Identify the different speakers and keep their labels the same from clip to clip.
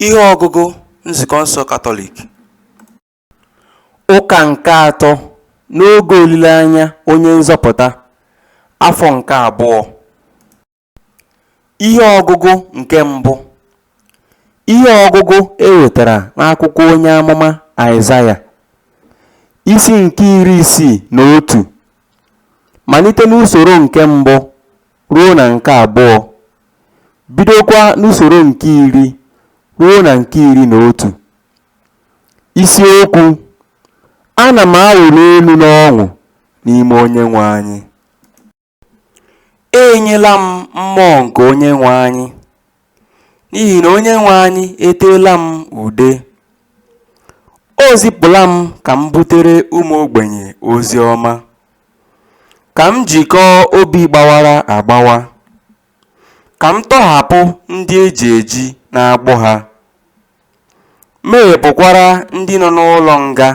Speaker 1: Ihe ọgụgụ Nzukọ nsọ Katọlik.
Speaker 2: Ụka nke atọ n'oge olileanya Onye Nzọpụta, afọ nke abụọ. Ihe ọgụgụ nke mbụ. Ihe ọgụgụ e wetara n'akwụkwọ onye amụma Aịzaya, isi nke iri isii na otu, malite n'usoro nke mbụ ruo na nke abụọ, bidokwa n'usoro nke iri ruo na nke iri na otu. Isiokwu, Ana m awụli elu n'ọṅụ n'ime Onyenwe
Speaker 1: anyị. E nyela m mmụọ nke Onyenwe anyị. N'ihi na Onyenwe anyị eteela m ude, o zipụla m ka m butere ụmụ ogbenye ozi ọma, ka m jikọọ obi gbawara agbawa, ka m tọhapụ ndị e ji eji n'agbụ ha, meghepụkwara ndị nọ n'ụlọ nga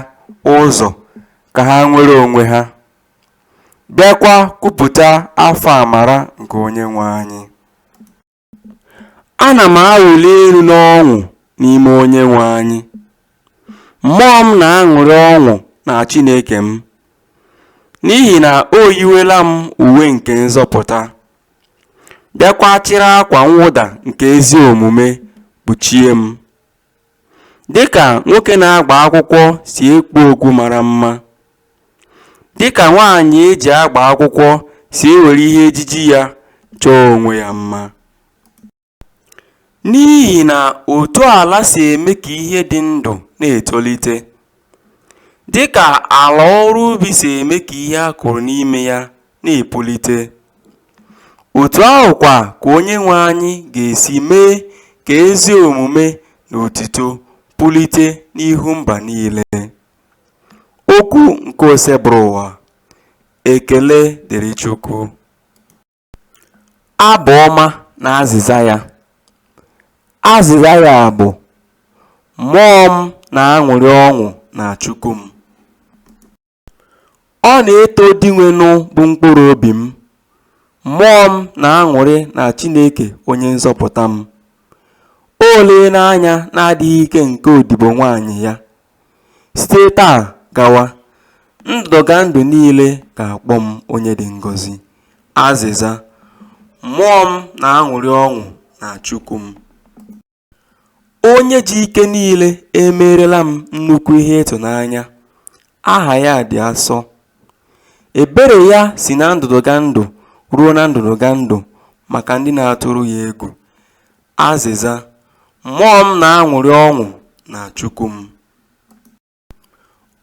Speaker 1: ụzọ ka ha nwere onwe ha, bịakwa kwupụta afọ amara nke Onyenwe anyị.
Speaker 2: Ana m awụli elu n'ọṅụ n'ime Onyenwe anyị, mmụọ m na-aṅụrị ọṅụ na Chineke m, n'ihi na o yiwela m uwe nke nzọpụta, bịakwa chịrị akwa mwụda nke ezi omume kpuchie m. Dịka nwoke na-agba akwụkwọ si ekpu okpu mara mma, dịka nwaanyị e ji agba akwụkwọ si ewere ihe ejiji ya chọọ onwe ya mma.
Speaker 1: N'ihi na otu ala si eme ka ihe dị ndụ na-etolite, dịka ala ọrụ ubi si eme ka ihe a kụrụ n'ime ya na-epulite. Otu ahụ kwa ka Onyenwe anyị ga-esi mee ka ezi omume na otito pulite n'ihu mba niile. Okwu nke Osebụrụwa. Ekele dịrị
Speaker 2: Chukwu. Abụ ọma na azịza ya. Azịza ya bụ Mmụọ m na-aṅụrị ọṅụ na Chukwu m. Ọ na-eto Dinwenụ bụ mkpụrụ obi m, mmụọ m na-aṅụrị na Chineke onye nzọpụta m. O leela anya n'adịghị ike nke odibo nwaanyị ya. Site taa gawa, ndụdụgandụ niile ga-akpọ m onye dị ngọzi. Azịza, Mmụọ m na-aṅụrị ọṅụ na Chukwu m. Onye ji ike niile emeerela m nnukwu ihe ịtụnanya, aha ya dị asọ. Ebere ya si na ndụdụgandụ ruo na ndụdụgandụ maka ndị na-atụrụ ya egwu. Azịza, Mmụọ m na-aṅụrị ọṅụ na Chukwu m.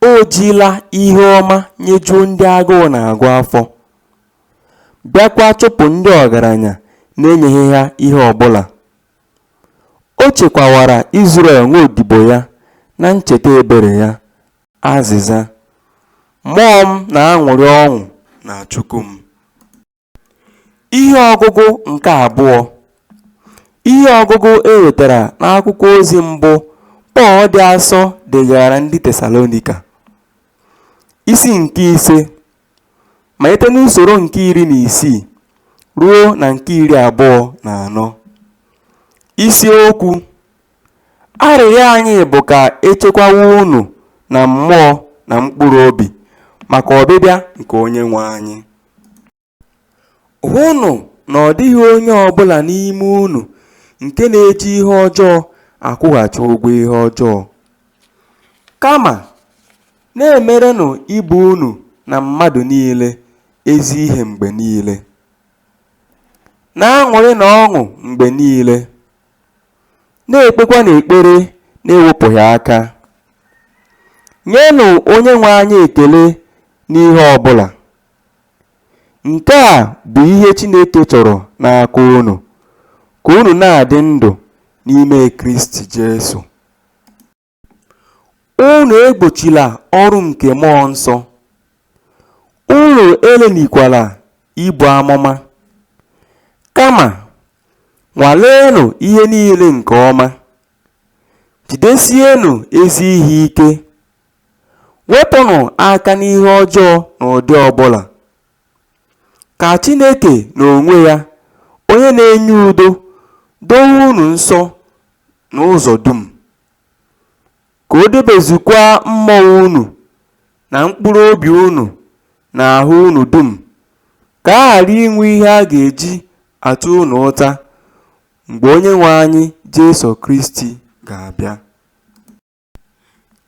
Speaker 2: O jila ihe ọma nyejuo ndị agụụ na-agụ afọ, bịakwa chụpụ ndị ọgaranya na-enyeghị ha ihe ọ bụla. O chekwawara Izrel nwa odibo ya na ncheta ebere ya. Azịza, Mmụọ m na-aṅụrị ọṅụ na Chukwu m. Ihe ọgụgụ nke abụọ Ihe ọgụgụ e wetara n'akwụkwọ ozi mbụ Pọl dị asọ degaara ndị Tesalonika, isi nke ise, malite n'usoro nke iri na isii ruo na nke iri abụọ na anọ. Isiokwu Arịrịọ anyị bụ ka e chekwawa unu na mmụọ na mkpụrụ obi maka ọbịbịa nke Onyenwe anyị. Hụnụ na ọ dịghị onye ọ bụla n'ime unu nke na-eji ihe ọjọọ akwụghachi ụgwọ ihe ọjọọ. Kama, na-emerenụ ibe unu na mmadụ niile ezi ihe mgbe niile. Na-aṅụrịnụ ọṅụ mgbe niile. na-ekpekwanụ ekpere na-ewepụghị aka. Nyenụ Onyenwe anyị ekele n'ihe ọ bụla. Nke a bụ ihe Chineke chọrọ n'aka unu, ka unu na-adị ndụ n'ime Kristi Jesu. Unu egbochila ọrụ nke Mmụọ Nsọ, unu elelịkwala ibu amụma, kama nwaleenụ ihe niile nke ọma, jidesienụ ezi ihe ike, wepụnụ aka n'ihe ọjọọ n'ụdị ọ bụla. Ka Chineke n'onwe ya, onye na-enye udo, dowe unu nsọ n'ụzọ dum, ka o debezukwa mmụọ unu na mkpụrụ obi unu na ahụ unu dum, ka a ghara inwe ihe a ga-eji ata unu ụta mgbe Onyenwe anyị Jesu Kristi ga-abịa.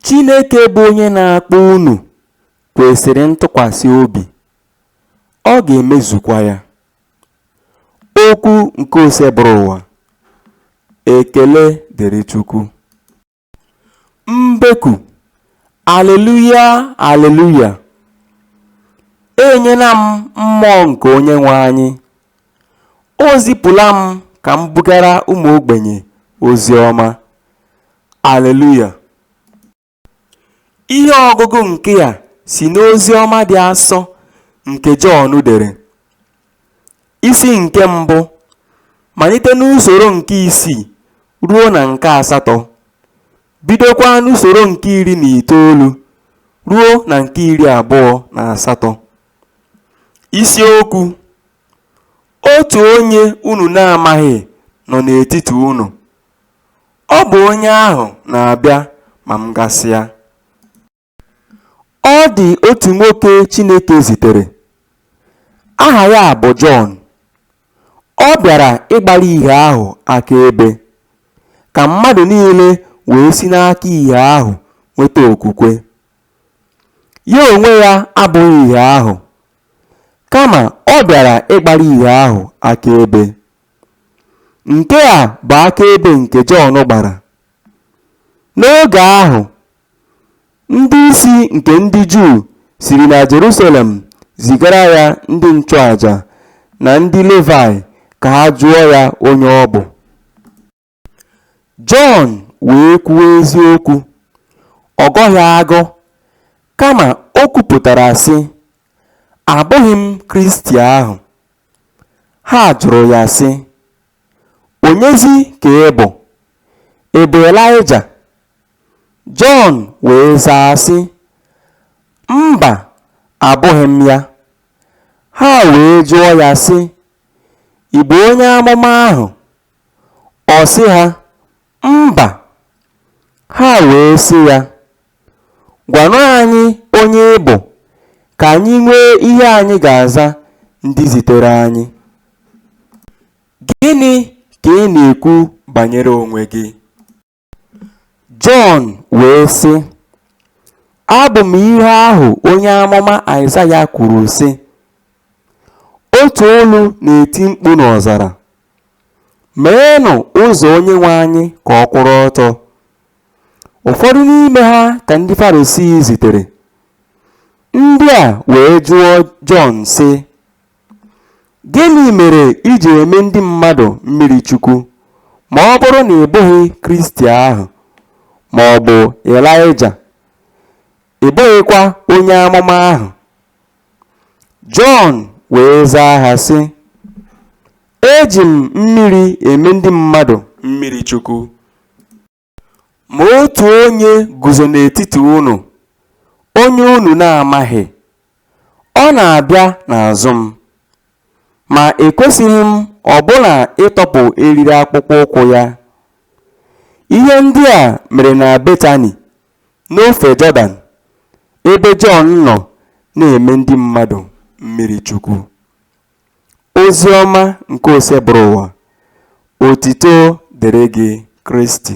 Speaker 2: Chineke bụ onye na-akpọ unu kwesịrị ntụkwasị obi, ọ ga-emezukwa ya. Okwu nke Osebụrụwa Ekele dịrị Chukwu. Mbeku Aleluya Aleluya e nyela m mmụọ nke Onyenwe anyị. O zipụla m ka m bugara ụmụ ogbenye ozi ọma. Aleluya! Ihe ọgụgụ nke a si n'ozi ọma dị asọ nke Jọn dere. Isi nke mbụ, malite n'usoro nke isii ruo na nke asatọ, bidokwa n'usoro nke iri na itoolu ruo na nke iri abụọ na asatọ. Isiokwu, Otu onye unu na-amaghị nọ n'etiti unu, ọ bụ onye ahụ na-abịa ma m gasịa. Ọ dị otu nwoke Chineke zitere, aha ya bụ Jọn. Ọ bịara ịgbara ìhè ahụ akaebe, ka mmadụ niile wee si n'aka ìhè ahụ nweta okwukwe. Ya onwe ya abụghị Ìhè ahụ, kama ọ bịara ịgbara Ìhè ahụ akaebe. Nke a bụ akaebe nke Jọn gbara. N'oge ahụ, ndị isi nke ndị Juu siri na Jerusalem zigara ya ndị nchụaja na ndị Levaị ka ha jụọ ya onye ọ bụ. Jọn wee kwuo eziokwu, ọ gọghị agọ, kama o kwupụtara, sị, Abụghị m Kristi ahụ. Ha jụrụ ya, sị, Onyezi ka ị bụ? Ị bụ Elaịja? Jọn wee zaa, sị, Mba, abụghị m ya. Ha wee jụọ ya, sị, Ị bụ onye amụma ahụ? Ọ sị ha, Mba. Ha wee sị ya, Gwanụ anyị onye ị bụ, ka anyị nwee ihe anyị ga-aza ndị zitere anyị. Gịnị ka ị na-ekwu banyere onwe gị? Jọn wee sị, Abụ m ihe ahụ onye amụma Aịzaya kwuru, sị, Otu olu na-eti mkpu n'ọzara, Meenụ ụzọ Onyenwe anyị ka ọ kwụrụ ọtọ. Ụfọdụ n'ime ha ka ndị Farisii zitere. Ndị a wee jụọ Jọn, sị, Gịnị mere i ji eme ndị mmadụ mmiri chukwu ma ọ bụrụ na ị bụghị Kristi ahụ ma ọ bụ Ịlaịja, ị bụghịkwa onye amụma ahụ? Jọn wee zaa ha, sị, Eji m mmiri eme ndị mmadụ mmiri chukwu. Ma otu onye guzo n'etiti unu, onye unu na-amaghị. Ọ na-abịa n'azụ m. Ma ekwesịghị m ọbụna ịtọpụ eriri akpụkpọ ụkwụ ya. Ihe ndị a mere na Betani, n'ofe Jọdan, ebe Jọn nọ na-eme ndị mmadụ mmirichukwu. Oziọma nke Osebụrụwa, Otito dịrị gị Kristi.